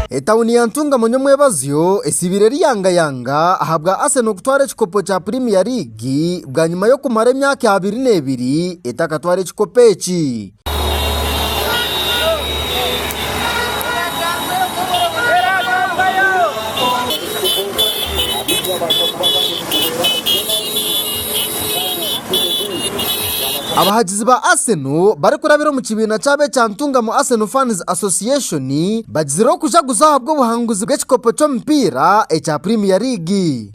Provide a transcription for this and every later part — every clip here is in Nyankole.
Etauni ya Ntungamo Nyomwebazyo esiibire eriyangayanga ahabwa Arsenal kutwara ekikopo kya Premier League bwanyima y'okumara emyaka abiri n'ebiri etakatwara ekikopo eki. Abahagizi ba Arsenal barikurabira omu kibiina kyabo ekya Ntungamo Arsenal Fans Association bagizire okujaguza ahabw'obuhanguzi bw'ekikopo ky'omupiira ekya Premier League.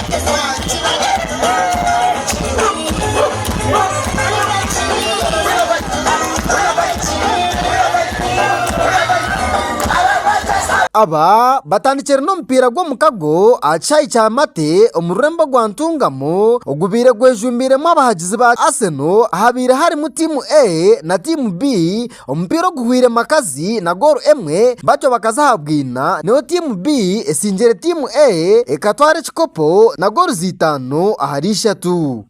Aba batandikire n'omupiira gw'omukago aha kishaayi kya Mate omu rurembo rwa Ntungamo. muzaano ogubaire gwejumbiiremu abahagizi ba Aseno ahabaire harimu tiimu A na tiimu B, omupiira oguhwire makazi na gooro emwe batyo bakaza aha bwina nayo tiimu B esingire tiimu A ekatwara ekikopo na gooro itaano ahari ishatu.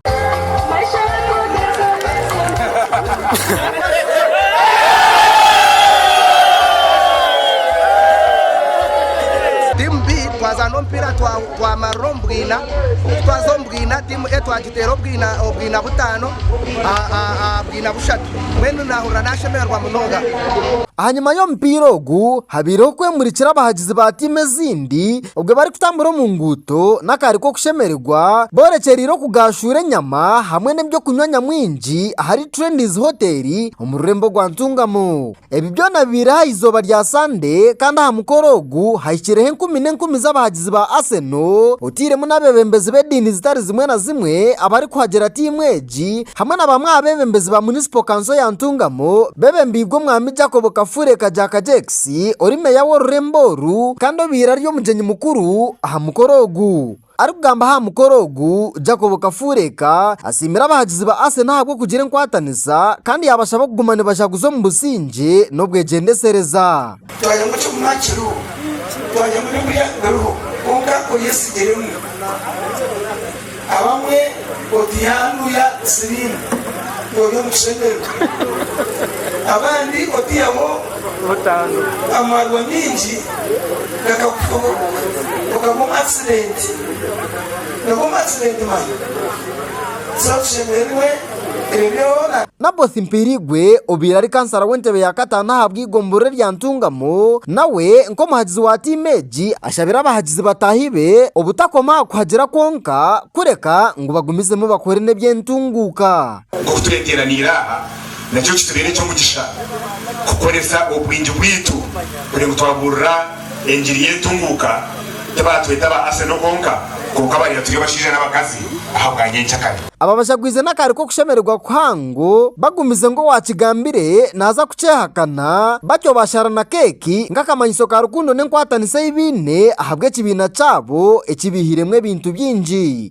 Twamarira omu bwina, ku twaza omu bwina, tiimu A twagiteera obwina obwina butaano aha aha bwina bushatu. Mbwenu naahurira naashemererwa munonga. Ahanyima y'omupiira ogu, habaireho kwemurikira abahagizi ba tiimu ezindi obwe barikutambura omu nguuto n'akaari k'okushemererwa boorekyereire okugaashuura enyama hamwe n'eby'okunywa nyamwingi ahari Trendy's Hotel omu rurembo rwa Ntungamo. Ebi byona bibaire aha izooba rya Sande kandi aha mukoro ogu hahikireho enkumi n'enkumi z'abahagizi ba Aseno otairemu n'abeebembezi b'ediini zitari zimwe na zimwe abarikuhagira tiimu egi hamwe na bamwe aha beebembezi ba munisipo kanso ya Ntungamo bebembeirwe omwami Jacob Kafule Kagyaka Jex ori meeya w'orurembo oru kandi obaire ari omugyenyi mukuru aha mukoro ogu. Arikugamba aha mukoro ogu, Jacob Kafureeka asiimire abahagizi ba Arsenal ahabw'okugira enkwatanisa kandi yaabashaba kuguma nibajaguza omu busingye n'obwegyendesereza. Twanyemu kiguma kiriho, twanyemu n'embuya biriho, kwonka oryesigiremu abamwe. Oti yaangu ya siriimu ori omu kishemerwa abandi otiyaho amaarwa maingi gakakufa okagwa omu akisidenti nagwa omu akisidenti mani. Tuza tushemererwe ebyo byona. Nabosi Mpiirigwe obaire ari kansara w'entebe ya kataano aha Bwiga omu Buruuri rya Ntungamo, nawe nk'omuhagizi wa tiimu egi, ashabire abahagizi bataahi be obutakoma aha kuhagira kwonka, kureka ngu bagumizemu bakore n'eby'entunguuka. Oku tureeteraniire aha, nakyo kitubeere eky'omugisha kukoresa obwingi bwaitu kugira ngu twabuurira Engiri y'entunguuka tibaatweta aba Arsenal kwonka, kwonka baabaire turi abashaija n'abakazi aha bwa nyenkya kare. Aba bashagwize n'akaari k'okushemererwa kuhango bagumize ngu owaakigambire naaza kukyehakana, batyo baashara na keeki nk'akamanyiso ka rukundo n'enkwatanisa ei baine ahabw'ekibiina kyabo ekibaihiremu ebintu bingi.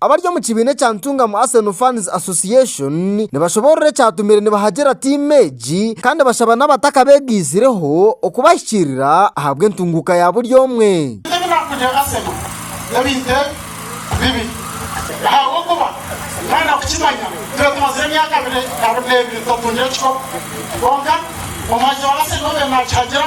Abari omu kibiina ekya Ntungamo Arsenal Fans Association nibashoboorora ekyatumire nibahagira tiimu egi kandi bashaba n'abatakabegaizireho okubahikiirira ahabw'entunguuka ya buri omwe. Ebi naakundira Arsenal n'ebintu ebi bibiri. Ahabw'okuba nooyenda kukimanya, itwe tumazire emyaka abiri abiri n'ebiri tutatungire kikopo. Kwonka omuhagizi wa Arsenal obe naakihagira.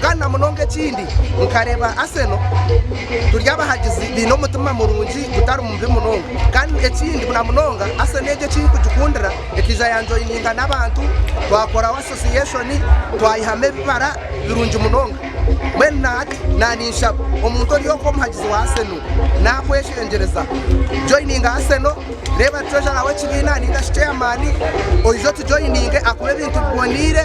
Kandi na munonga ekindi nkareeba Arsenal turi abahagizi baine omutima murungi gutari mubi munonga kandi ekindi na munonga Arsenal egi eki nkugikundira ekaija yanjoininga n'abantu twakoraho association twayihamu ebibara birungi munonga mbwenu na hati naninshaba omuntu ori oku omuhagizi wa Arsenal nakweshengyereza joininga Arsenal reeba twejaraho ekibiina ninga shi chairman oije otujoininge akuhe ebintu biboneire.